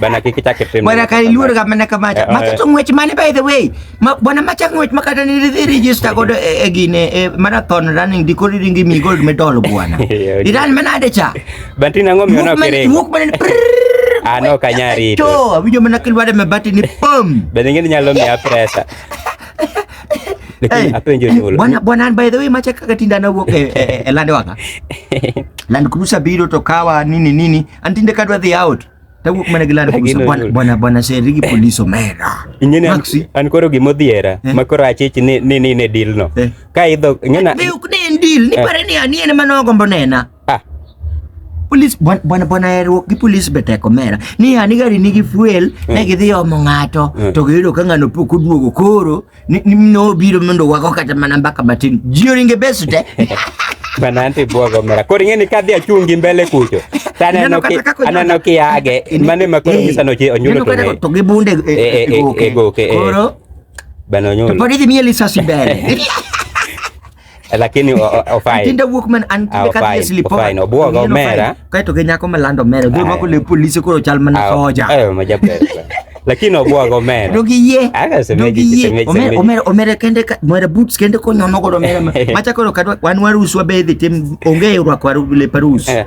Bana kiki chake pembe. Bwana kaliluor kama na kama cha. Eh, Maka eh. to ngwech mane by the way. Ma bwana macha ngwech makata ni ridhi register godo e eh, gine e marathon running dikori ringi mi gold medal bwana. Iran mana ade cha. Banti na ngomi ona kere. Wuk mana Ano ah, kanyari itu. To, abijo mana kilwada mebati ni pom. Beningin nyalo mi apresa. Lakini apenjo eh, nyolo. Bwana bwana by the way macha kakatinda na wuok e lande waka. Land Cruiser biro to kawa nini nini antinde kadwa dhi out tawuok mana gi lando kusa bwana bwana bwana serigi police omera inyene maxi an koro gimo dhiera eh? makoro achich ni ni ni ne deal no eh? ka idho ngena ne ok ne deal ni eh? pare ni ani en mano gombo nena ah police bwana bwana bwana erwo gi police beteko mera ni ani gari nigi fuel eh. ne gidhi omo ngato eh. to giyudo ka ngano pok oduogo koro Ni- ni mno biro mondo wago kata mana mbaka matin ji oringe bes te Bananti buogo mera. Koro ing'e ni kadhi achungi mbele kucho. To aneno Ineno kata ki kaka onyono. aneno ki age. Mane ma koro Eh, nyisa noche onyulo ineno to kata ng'e. to gi bunde e- Eh, eh, e- e goke. e goke, eh. koro Bana to onyulo. pod idhi miye lisasi mbele Eh, lakini otinde wuok man an kinde ka dhie slipofine obwogo omera kae to gi nyako malando omera dhi mako le polise koro chal mana soja eh, lakini obwogo omera to gi yie to gi yie omera omera kende omera boots kende konyono godo omera macha koro wan waruswa bedhi tim onge rwako leparus eh.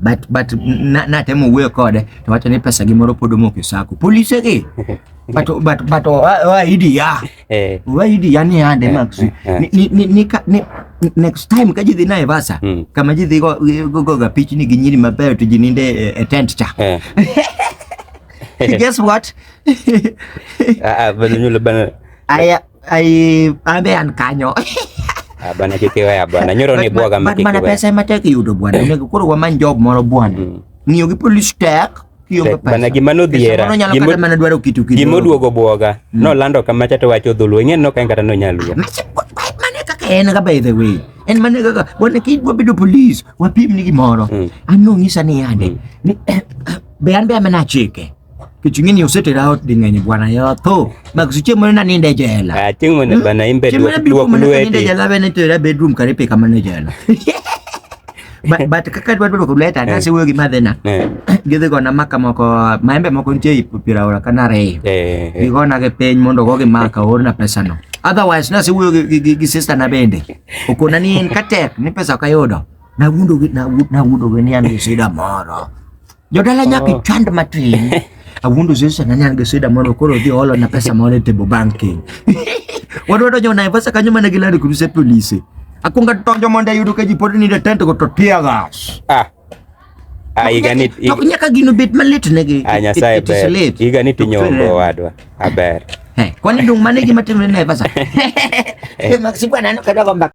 but but natemo wuoyo kode to wacho ni pesa gi moro pod omoko e sako polise gi but but but wa idi ya eh. wa idi ya ni ande eh, max eh, ni ni ni ni next time ka jidhi Naivasha hmm. kama jidhi go go go ga pichni gi nyiri mabeyo to jininde e tent cha guess what ah, ah bana nyule bana aya Ay, pamean kanyo. Ah, bana kikiwea bana nyoro ni bwaga ma kikiwea. Bana pesa ma tek yudo bwana. Ne koro wa man job moro bwana. Mm. Ngiyo gi police tek. Bana gima no dhiera. Gimo kata mana dwaro kitu kitu. Gimo duogo bwaga. Mm. No lando kama chato wacho dhulu. Ingen no kain kata no nyaluo. Mane kaka en ga by the way. En mane kaka bwana kid wa bedo police. Wa pim ni gimoro. Mm. Ano ngisa ni yande. Mm. Ni eh, eh, be an be amena chike. Kitu kingine usete lao dinganya bwana ya to. Ba kusiche mwana nani nda jela. Ah, tingu mwana hmm? bana imbe dua dua kulwe. Nda jela bana to la bedroom karepe kama nda jela. Ba ba kaka dua dua kulwe ta nasi wewe gima thena. Githe kona maka moko maembe moko ntie ipupira ora kana re. Eh. Gikona ke peny mondo goge maka orna pesa no. Otherwise nasi wewe gi sister na bende. Ukona ni en katek ni pesa kayodo. Na wundo na wundo ni an sida moro. Jodala nyaka oh. ichand matin. Awuondo Yesu sana nyan gi sida mondo koro odhi olo na pesa moro e table banking. Wadwa donjo Naivasha kanyo mana gi Land Cruiser polisi. Akwonga donjo mondo ayudo ka ji pod ni tent go to tear gas. Ah. Ah, igani to nyaka gino bet malit negi. Ah, Nyasaye ber. Igani tinyombo wadwa. Aber. Ah, eh, kwani dung mane gima timre Naivasha? Eh, maksibwa nani kadogo mbaka.